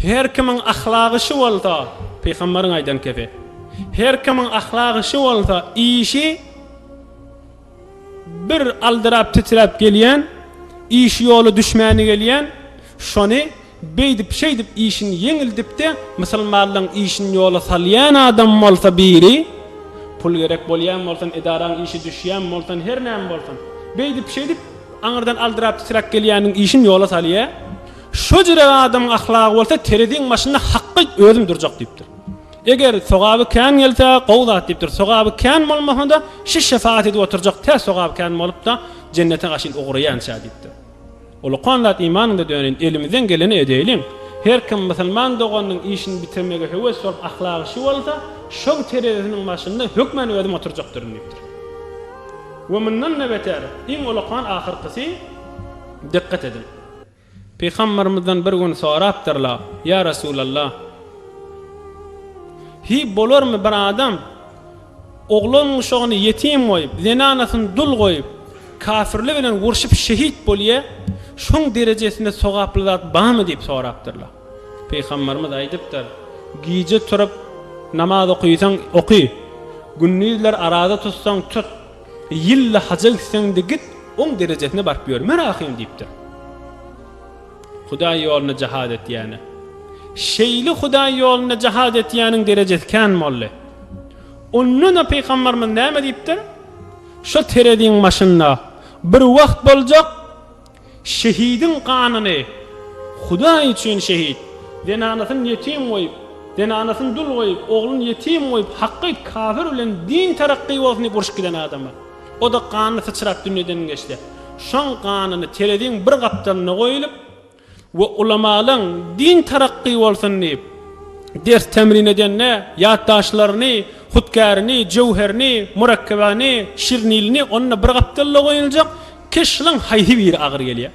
Her kimiň ahlagy şu bolsa, pygamberiň aýdan kebi, her kimiň ahlagy şu bolsa, işi bir aldyrap titräp gelýän, işi ýoly düşmäni gelýän, şony beýdip şeýdip işini ýeňildipdi, musulmanlaň işini ýola salýan adam bolsa biri, pul gerek bolýan bolsun, edaraň işi düşýän bolsun, her näme bolsun, beýdip şeýdip aňyrdan aldyrap titräp gelýäniň işini ýola salýa. Şo jürek adamyň ahlagy bolsa tereziň başynda hakga özüm durjak diýipdir. Eger sogaby kän gelse, gowy zat diýipdir. Sogaby kän bolmasa-da, şi şefagat edip oturjak, tä sogaby kän bolup-da, jennete gaşyn ugraýança diýipdir. Ulukan zat imanyňda döneýin, elimizden geleni edeýliň. Her kim musulman doganynyň işini bitirmege höwes bolup, ahlagy şi bolsa, şoň terezisiniň başynda hökmän özüm oturjakdyryn diýipdir. We mundan-da beter, iň ulukan ahyrkysy, dikkat ediň! Pygambermizden bir gün sorapdyrlar, Ýa Resulallah! Hi, bolarmy bir adam oglan-uşagyny ýetim goýup, zenanasyny dul goýup, kafirli bilen urşup şehit bolýa, şoň derejesinde sogaply zat barmy diýip sorapdyrlar. Pygambermiz aýdypdyr, Gije turup namaz okaýsaň oky, gündizler araza tutsaň tut. Ýylla haja gitseň-de git, oň derejesine baryp ýörme rahym diýipdir. Hudaý ýolunda jahat etýäne. Şeýle Hudaý ýolunda jahat etýäniň derejesi kän boldy. Onda-da pygamberimiz näme diýipdir? Şo tereziň başynda bir wagt boljak. Şehidiň ganyny Hudaý üçin şehit, zenanasyny ýetim goýup, zenanasyny dul goýup, ogluny ýetim goýup, haky aýt kafir bilen din terakky bolsun diýip urşup giden adama. Oda ganyny syçrap dünýeden geçse. Şoň ganyny tereziň bir gapdalynda goýulyp. we ulamalyň din tarakky bolsun diýip, ders temrin edende, ýatdaşlaryny, hutkärini, jöwherini, murakkebaýny, şirnilini onda bir gapdalda goýuljak keşliň haýsy biri agyr gelýär?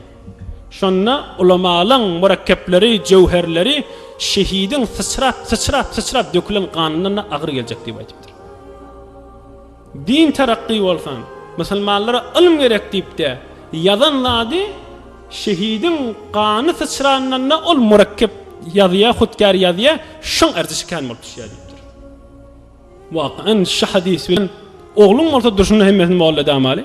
Şonda ulamalyň murakkepleri, jöwherleri şehidiň syçrap, syçrap, syçrap dökülen ganyndan-da agyr geljek diýip aýdypdyr. Din terakgy bolsun. Musulmanlara ylym gerek diýipdä ýazan zady şehidiň gany syçrandanda ol murekkep ýazýa hutkar ýazýa şoň erzi şikan bolup düşýä diýipdir. Wakan şu hadys bilen ogluň bolsa durşuna hemmesini molla edamaly.